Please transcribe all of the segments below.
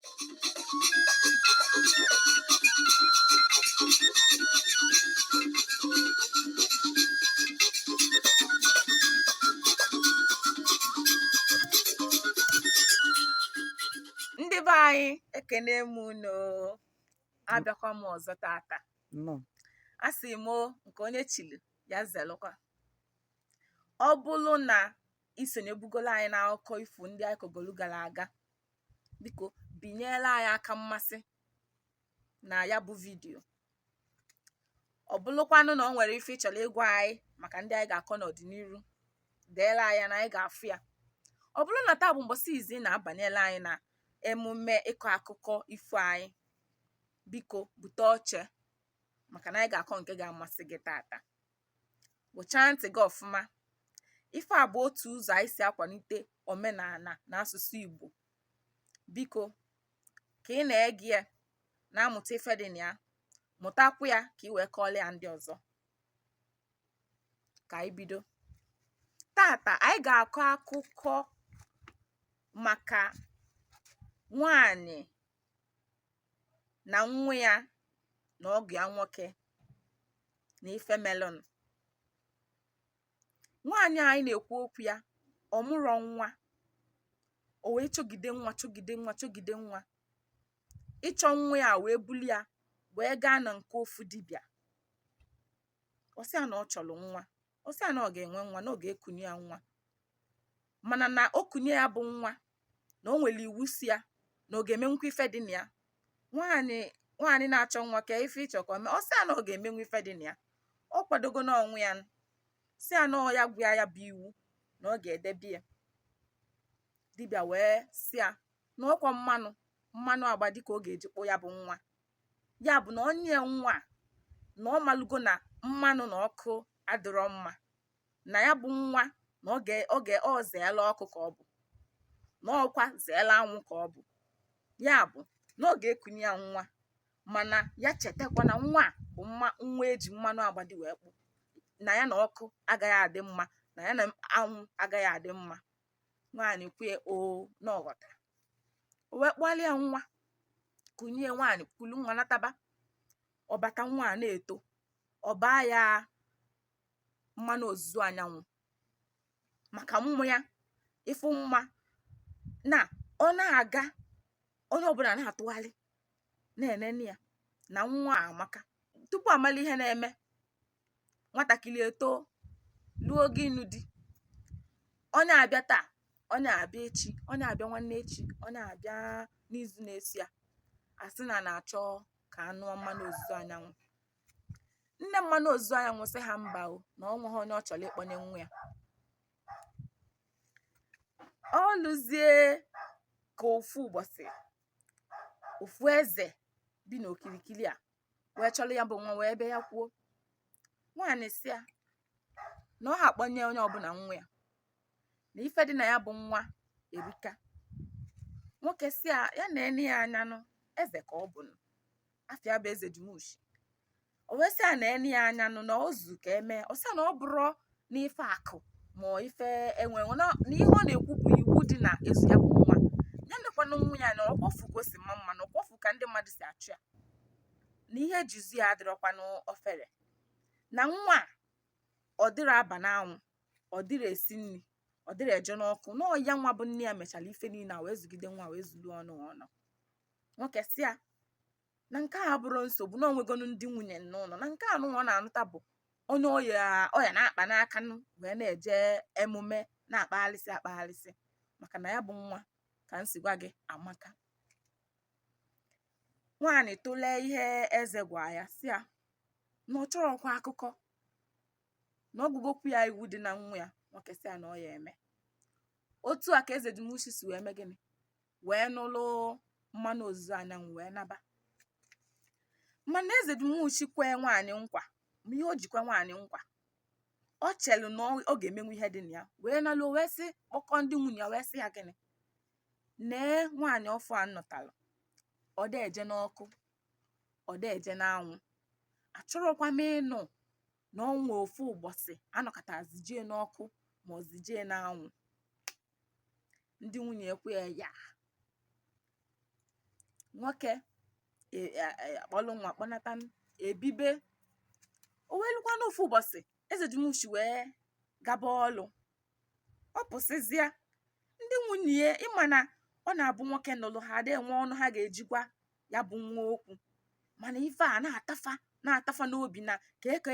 ndị be anyị ekene m unu abịakwa m ọzọ tata a sị m nke onye chili ya zelụkwa ọ bụrụ na isonyebugolu anyị n'akụkọ ifo ndị anyị kọgolu gara aga biko binyere anyị aka mmasị na ya bụ vidiyo ọ bụlụkwanụ na ọ nwere ife ị chọrọ ịgwa anyị maka ndị anyị ga-akọ n'ọdịnihu deere anyị ya na anyị ga-afụ ya ọ bụrụ na taa bụ mbọsị izizi ị na-abanyelu anyị na emume ịkọ akụkọ ifo anyị biko bute oche maka na anyị ga-akọ nke ga-amasị gị tata kpụchaa ntị gị ọfụma ife a bụ otu ụzọ anyị si akwalite omenala na asụsụ Igbo biko ka ị na-ege ya na-amụta ife dị na ya mụtakwu ya ka ị wee kọọrọ ya ndị ọzọ ka anyị bido tata anyị ga-akọ akụkọ maka nwanyị na nwa ya na ọgọ ya nwoke na ife melụnụ nwaanyị anyị na-ekwu okwu ya ọ mụrọ nwa o wee chọgide nwa chọgide nwa chọgide nwa ịchọ nwa ya wee bulu ya wee gaa na nke ofu dibịa ọ sị ya na ọ chọrọ nwa ọ sị ya na ọ ga-enwe nwa na ọ ga-ekunye ya nwa mana na o kunye ya bụ nwa na o nwere iwu sị ya na ọ ga-emenwukwa ife dị na ya nwaanyị nwaanyị na-achọ nwa ka ife ịchọ ka ọ mee ọ sị ya na ọ ga-emenwu ife dị na ya ọ kwadogo n'onwe ya sị ya na ọ ya gwa ya bụ iwu na ọ ga-edebe ya dibịa wee sị ya na ọkwa mmanụ mmanụ agbadi ka ọ ga-eji kpụ ya bụ nwa ya bụ na o nye ya nwa na ọ malụgo na mmanụ na ọkụ adịrọ mma na ya bụ nwa na ọ zeela ọkụ ka ọ bụ na ọkwa zeela anwụ ka ọ bụ ya bụ na ọ ga-ekunye ya nwa mana ya chetakwa na nwa a bụ mma nwa eji mmanụ agbadi wee kpụ na ya na ọkụ agaghị adị mma na ya na anwụ agaghị adị mma nwaanyị kwe oo na ọ ghọtara o wee kpụọrọ ya nwa kunye nwaanyị kulu nwa nataba ọ bata nwa a na-eto ọ baa ya mmanụ ozuzu anyanwụ maka mma ya ifu mma na ọ na-aga onye ọbụla na-atụgharị na-enene ya na nwa a amaka tupu amalụ ihe na-eme nwatakịrị etoo luo ogo ịnụ di onye a abịa taa onye a abịa echi onye a abịa nwanne echi onye a abịa n'izu na-eso ya a sị na na-achọ ka a nụọ mmanụ ozuzo anyanwụ nne mmanụ ozuzo anyanwụ sị ha mba o na o nweghị onye ọ chọrọ ịkpọnye nwa ya o luzie ka ofu ụbọsị ofu eze bi n'okirikiri a wee chọrọ ya bụ nwa wee bịa ya kwuo nwaanyị sị ya na ọ ha akpọnye onye ọbụna nwa ya na ife dị na ya bụ nwa erika nwoke sị ya ya na ene ya anya nụ eze ka ọ bụ nụ afa ya bụ eze dumushi o wee sị ya na ene ya anya nụ na o zu ka e mee ọ sị ya na ọ bụrọ n'ife akụ ma ife enwe enwe na ihe ọ na-ekwu bụ iwu dị n'ịzụ ya bụ nwa ya nekwanụ nwa ya na ọkwa ọ fụ ka o si maa mma na ọkwa ọ fụ ka ndị mmadụ si achụ ya na ihe e ji zụ ya adịrọkwanụ ofere na nwa ọ dịrị aba n'anwụ ọ dịrị esi nni ọ dịrị eje n'ọkụ na ọ ya nwa bụ nne ya mechala ife niine a wee zụgide nwa wee zulu ọnụ ọnụ nwoke sị ya na nke ahụ abụrọ nsogbu na o nwegonu ndị nwunye n'ụnọ na nke a nụnwa na-anụta bụ onye ọ ya na-akpa n'aka wee na-eje emume na-akpaghalịsị akpaghalịsị maka na ya bụ nwa ka m si gwa gị amaka nwaanyị tụlee ihe eze gwa ya sị ya na ọ chọrọkwa akụkọ na ọ gụgokwu ya iwu dị na nwa ya nwoke sị ya na ọ ya eme otu a ka eze dumushi si wee mee gịnị wee nụrụ mmanụ ozuzo anyanwụ wee naba mana eze dumushi kwee nwaanyị nkwa ma ihe o ji kwe nwaanyị nkwa o chelu na ọ- ọ ga-emenwu ihe dị na ya wee naluo wee sị kpọkọ ndị nwunye ya wee sị ya gịnị nee nwaanyị ọfụụ a m nụtalụ ọ da eje n'ọkụ ọ da eje n'anwụ achọrọkwa m ịnụ na o nwe ofu ụbọsị a nọkata zi jee n'ọkụ ma ọ zi jee n'anwụ ndị nwunye ekwe ya ya nwoke e, e, e, akpọlụ nwa kpọnata ebibe o wee lukwanụ ofu ụbọsị eze dumushi wee gaba ọlụ ọ pụsịzịa ndị nwunye ị ma na ọ na-abụ nwoke nụlụ ha ada enwe ọnụ ha ga-eji gwa ya bụ nwa okwu mana ife a na-ata fa na-ata fa n'obi na kee ka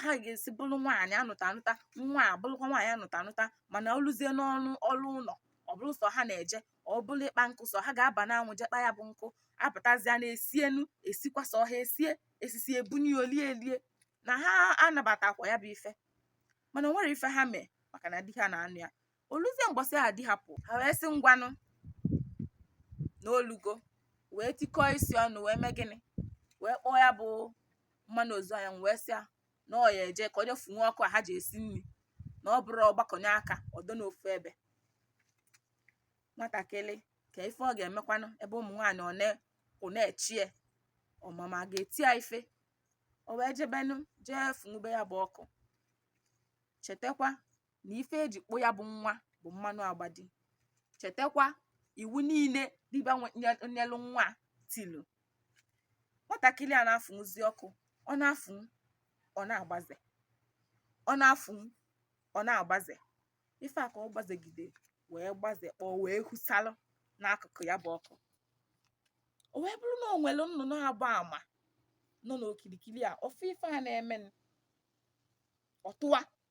ha ga-esi bụrụ nwaanyị anụta anụta nwa a bụrụkwa nwaanyị anụta anụta mana o luzie n'ọlụ ụnọ ọ bụrụ sọ ha na-eje ọ bụrụ ịkpa nkụ sọ ha ga-aba n'anwụ jee kpa ya bụ nkụ apụtazịa na esie nni esikwa sọ ha esie esisịa ebunye ya o lie elie na ha anabatakwa ya bụ ife mana o nwere ife ha mee maka na di ha na-anụ ya o luzie mbọsị ahụ di ha pụ ha wee sị ngwanụ na o lugo wee tikọọ isi ọnụ wee mee gịnị wee kpọọ ya bụ mmanụ ozu anya wee sị ya na ọ ya eje ka ọ je fụnwuo ọkụ a ha ji esi nri na ọ bụrọ ọ gbakọnye aka ọdọ n'ofu ebe nwatakịrị ka ife ọ ga-emekwanụ ebe ụmụ nwaanyị ọ na- ọ na-echi ya ọmama a ga-eti ya ife o wee jebenụ jee fụnwube ya bụ ọkụ chetakwa na ife eji kpụ ya bụ nwa bụ mmanụ agbadi chetakwa iwu niile dibịa nyelụ nwa tilu nwatakịrị a na-afụnwuzi ọkụ ọ na-afụnwụ ọ na-agbaze ọ na-afụnwụ ọ na-agbaze ife a ka ọ gbazegide wee gbaze kpọọ wee husalụ n'akụkụ ya bụ ọkụ o wee bụrụ na o nwere nnụnụ agba ama nọ n'okirikiri a ọ fụ ife a na-eme ọ tụwa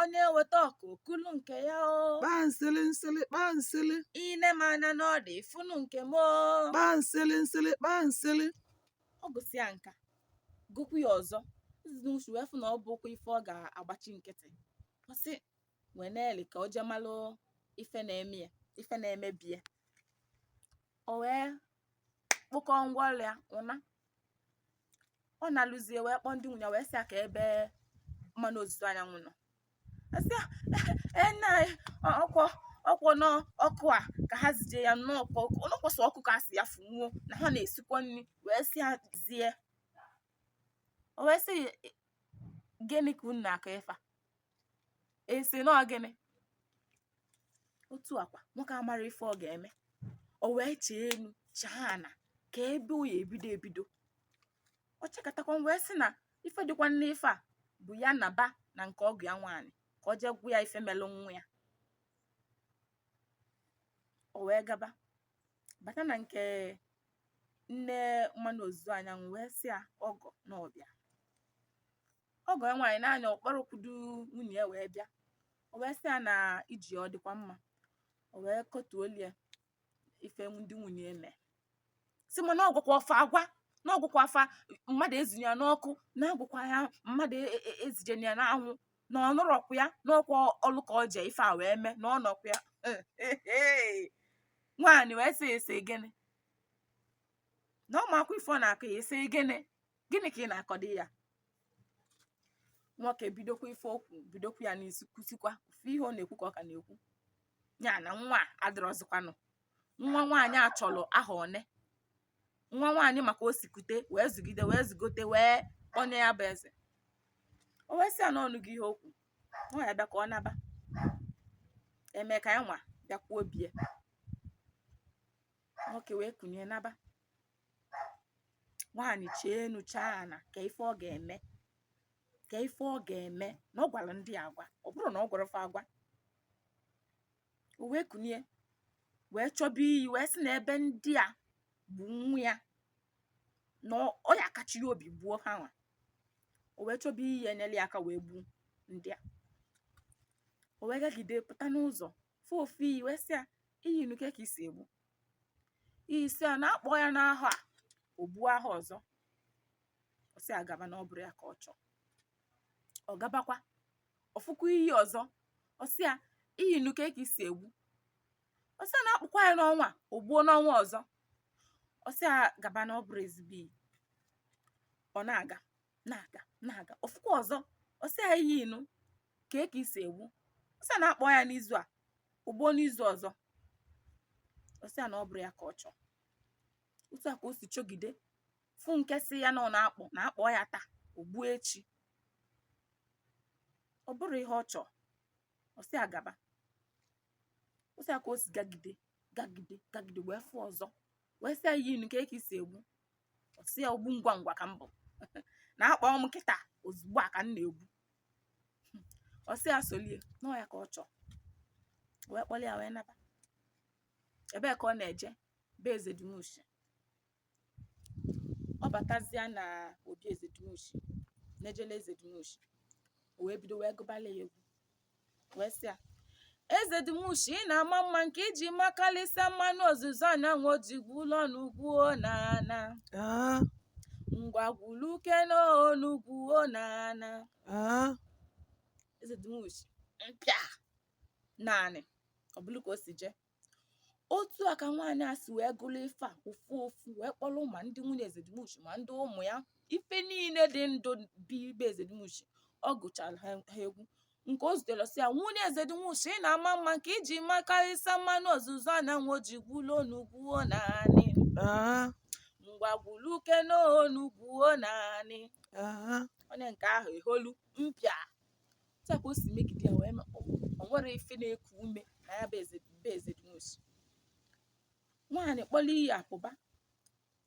onye weta ọkụ o kulu nke ya o kpaa nsịlị nsịlị kpaa nsịlị ine m anya n'ọdụ ifunu nke m o kpaa nsịlị nsịlị kpaa nsịlị ọ gụsịa nka gụkwu ya ọzọ eze nụsịa wee fụ na ọ bụkwa ife ọ ga-agbachi nkịtị ọ sị wee na-eli ka o je malụ ife na-eme ya ife na-eme be ya o wee kpokọọ ngwa ọrụ ya ụna ọ naluzie wee kpọọ ndị nwunye ya wee sị ya ka ebe mmanụ ozuzo anyanwụ nọ a sị ya na ọ kwọ n'ọkụ a ka ha zije ya na ọ kwọ sọ ọkụ ka a sị ya fụnwuo na ha na-esikwa nri wee sị ya zie o wee sị gịnị ka unu na-akọ ife a e si na ọ gịnị otu akwa nwoke amara ife ọ ga-eme o wee chee enu chee ana ka ebe o ya ebido ebido ọ chekatakwa wee sị na ife dịkwa n'ife a bụ ya naba na nke ọgọ ya nwaanyị ka ọ jee gwa ya ife melụ nwa ya o wee gaba bata na nke nne mmanụ ozuzo anyanwụ wee sị ya ọgọ na ọ bịa ọgọ ya nwaanyị naanị ọ kpọrọkwudu nwunye ya wee bịa o wee sị ya na ije ọ dịkwa mma o wee kọtuolu ya ife ndị nwunye eme sị mana ọ gwakwa fa agwa na ọ gwakwa fa mmadụ ezinye ya n'ọkụ na a gwakwa ya mmadụ e- e- ezijena ya n'anwụ na ọ nọrọkwa ya na ọ kwa ọlụ ka ọ je ife a wee mee na ọ nọkwa ya nwaanyị wee sị ya ị sị gịnị na ọ makwa ife ọ na-akọ ya ị sị gịnị gịnị ka ị na-akọdị ya nwoke bidokwa ife okwu bidokwa ya n'isi kwusikwa ofu ihe ọ na-ekwu ka ọ ka na-ekwu ya na nwa adịrọzikwanụ nwa nwaanyị achọrọ aha one nwa nwaanyị maka o sikute wee zụgide wee zụgote wee onye ya bụ eze o wee sị ya n'ọnụ gị ihe okwu nwa ya bịa ka ọ naba eme ka ya nwa bịakwuo bie nwoke wee kunie naba nwaanyị chee enu chee ana kee ife ọ ga-eme kee ife ọ ga-eme na ọ gwara ndị a agwa ọ bụrọ na ọ gwarọ fa agwa o wee kunie wee chọba iyi wee sị na ebe ndị a gbu nwa ya na ọ- ọ ya akachi ya obi gbuo ha nwa o wee chọba iyi enyela ya aka wee gbuo ndị a o wee gagide pụta n'ụzọ fụ ofu iyi wee sị ya iyi nụ kee ka i si egbu iyi sị ya na a kpọọ ya n'ahọ a o gbuo ahọ ọzọ ọ sị ya gaba na ọ bụrọ ya ka ọ chọọ ọ gabakwa ọ fụkwa iyi ọzọ ọ sị ya iyi nụ kee ka i si egbu ọ sị ya na a kpọkwa ya n'ọnwa a, o gbuo n'ọnwa ọzọ ọ sị ya gaba na ọ bụrọ ezigbo iyi ọ na-aga na-aga na-aga ọ fụkwa ọzọ ọ sị ya iyi nụ kee ka i si egbu ọ sị ya na a kpọọ ya n'izu a o gbuo n'izu ọzọ ọ sị ya na ọ bụrọ ya ka ọ chọọ otu a ka o si chọgide fụ nke sị ya na ọ na-akpọ na a kpọọ ya taa o gbuo echi ọ bụrọ ihe ọ chọọ ọ sị ya gaba otu a ka o si gagide gagide gagide wee fụ ọzọ wee sị ya iyi nụ kee ka i si egbu ọ sị ya ogbu ngwa ngwa ka m bụ na a kpọọ m kịta ozugbo a ka m na-egbu ọ sị ya solie na ọ ya ka ọ chọọ wee kpọrọ ya wee naba ebee ka ọ na-eje be eze dumushi ọ batazịa na obi eze dumushi na-ejele eze dumushi o wee bido wee gụbala ya egwu wee sị ya eze dị mushi ị na-ama mma nke i ji makarịsịa mmanụ ozuzo anyanwụ ojigwu ụlọ n'ugwu na ana Ah, ngwagwulu uke n'onugwu na ana ah. eze dị mushi mpịa naanị ọ bụrụ ka o si jee otu a ka nwaanyị a si wee gụrụ ife a ofu ofu wee kpọrọ ma ndị nwunye ezedimuchi ma ndị ụmụ ya ife niile dị ndụ bi be ezedimuchi ọ gụchara ha egwu nke o zutere sị ya nwunye ezedimuchi ị na-ama mma nke i ji makarịsa mmanụ ozuzo anyanwụ o ji gwuo n'ugwuo naanị Aha, ngwa gwuluke n'onugwuo naanị aha. onye nke ahụ eholu mpịa otu a ka o si megide ya wee ma o o nwerọ ife na-eku ume na ya bụ eze bụ eze dumuchi nwaanyị kpọrọ iyi apụba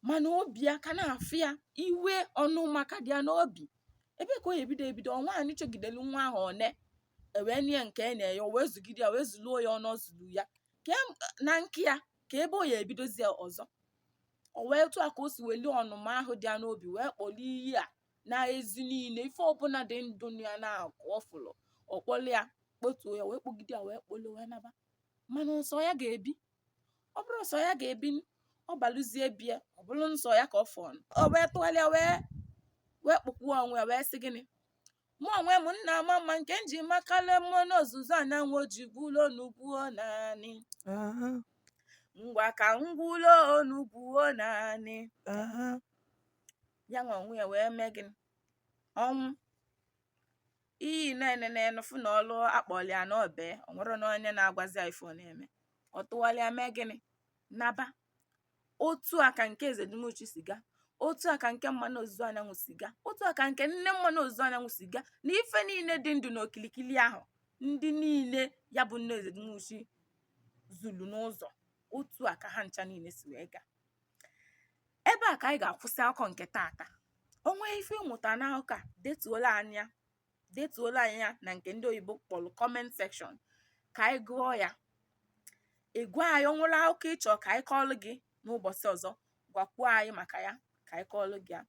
mana obi ya ka na-afụ ya iwe ọnụma ka dị ya n'obi ebe ka o ya ebido ebido ọ nwaanyị chọgidelu nwa ahọ one e wee nye nke e na-enye o wee zụgide ya wee zụluo ya ọnụ ọ zụlu ya ka em- na nke ya ka ebe o ya ebidozi ya ọzọ o wee otu a ka o si weli ọnụma ahụ dị ya n'obi wee kpọrọ iyi a na ezi niile ife ọbụla dị ndụ ya na-akụ ọ fụlụ ọ kpọlụ ya kpotuo ya wee kpọgide ya wee kpọlụ wee naba mana nsọ ya ga-ebi ọ bụrụ nsọ ya ga-ebi ọ balụzie bie ọ bụrụ nsọ ya ka ọ fọlụ o wee tụgharịa wee wee kpọkwuo onwe ya wee sị gịnị mụ onwe m nna ama mma nke m ji makala mmanụ ozuzo anyanwụ oji gwulo onugwuo naanị ngwa ka m gwulo onugwuo naanị ya nwa onwe ya wee mee gịnị ọ nwụọ iyi na-enene fụ na ọlụ a kpọlụ ya na o bee o nwerọ na onye na-agwazi ya ife ọ na-eme ọ tụwalịa mee gịnị naba otu a ka nke eze dumuchi si gaa otu a ka nke mmanụ ozuzo anyanwụ si gaa otu a ka nke nne mmanụ ozuzo anyanwụ si gaa na ife niile dị ndụ na okilikili ahụ ndị niile ya bụ nne eze dumuchi zulu n'ụzọ otu a ka ha ncha niile si wee gaa ebe a ka anyị ga-akwụsị akụkọ nke tata o nwee ife ị mụta n'akụkọ a detuolu anyị ya na nke ndị oyibo kpọrọ comment section ka anyị gụọ ya ị gwa anyị o nwere akụkọ ị chọ ka anyị kọọlụ gị n'ụbọchị ọzọ gwakwuo anyị maka ya ka anyị kọọlụ gị ya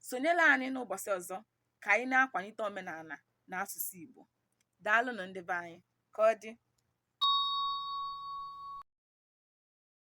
sonyelu anyị n'ụbọchị ọzọ ka anyị na-akwalite omenala na asụsụ Igbo daalụnụ ndị be anyị ka ọ dị